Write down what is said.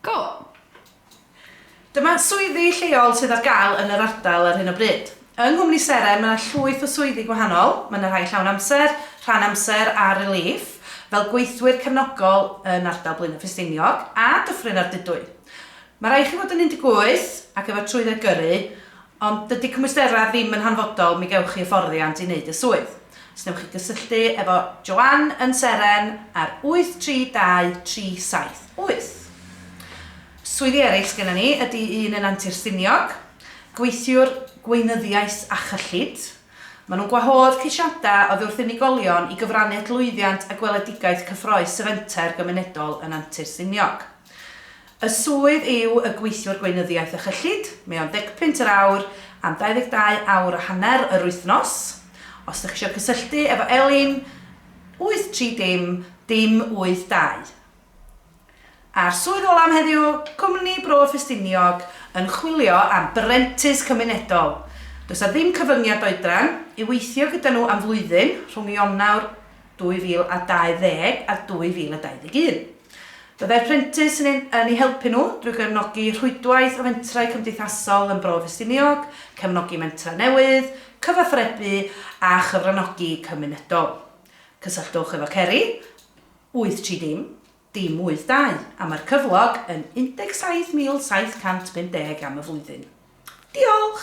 Go! Dyma swyddi lleol sydd ar gael yn yr ardal ar hyn o bryd. Yng nghwmni Seren mae 'na llwyth o swyddi gwahanol, mae 'na rhai llawn amser, rhan amser a relief, fel gweithwyr cefnogol yn ardal Blaenau Ffestiniog a Dyffryn Ardudwy. Mae rhaid i chi fod yn 18 ac efo trwydded gyrru, Ond dydy cymwysterau ddim yn hanfodol, mi gewch chi hyfforddiant i wneud y swydd. Os wnewch chi gysylltu efo Joanne yn Seren ar 832 378. Swyddi eraill sgenna ni ydy un yn Antur Stiniog, gweithiwr gweinyddiaeth a chyllid. Maen nhw'n gwahodd ceisiadau oddi wrth unigolion i gyfrannu at lwyddiant a gweledigaeth cyffroes y Fenter Gymunedol yn Antur Stiniog. Y swydd yw y Gweithiwr Gweinyddiaeth a Chyllid, mae o'n ddegpunt yr awr am 22 awr a hanner yr wythnos. Os ydych chi eisiau cysylltu efo Elin, 830 582. A'r swydd ola am heddiw, Cwmni Bro Ffestiniog yn chwilio am brentis cymunedol. Does 'na ddim cyfyngiad oedran, i weithio gyda nhw am flwyddyn, rhwng Ionawr 2020 a 2021. Byddai'r prentis yn eu helpu nhw drwy gefnogi rhwydwaith o fentrau cymdeithasol yn Bro Ffestiniog, cefnogi mentrau newydd, cyfathrebu a chyfranogi cymunedol. Cysylltwch efo Ceri, 83 dim dim 82, am yr cyflog yn 17750 am y flwyddyn. Diolch!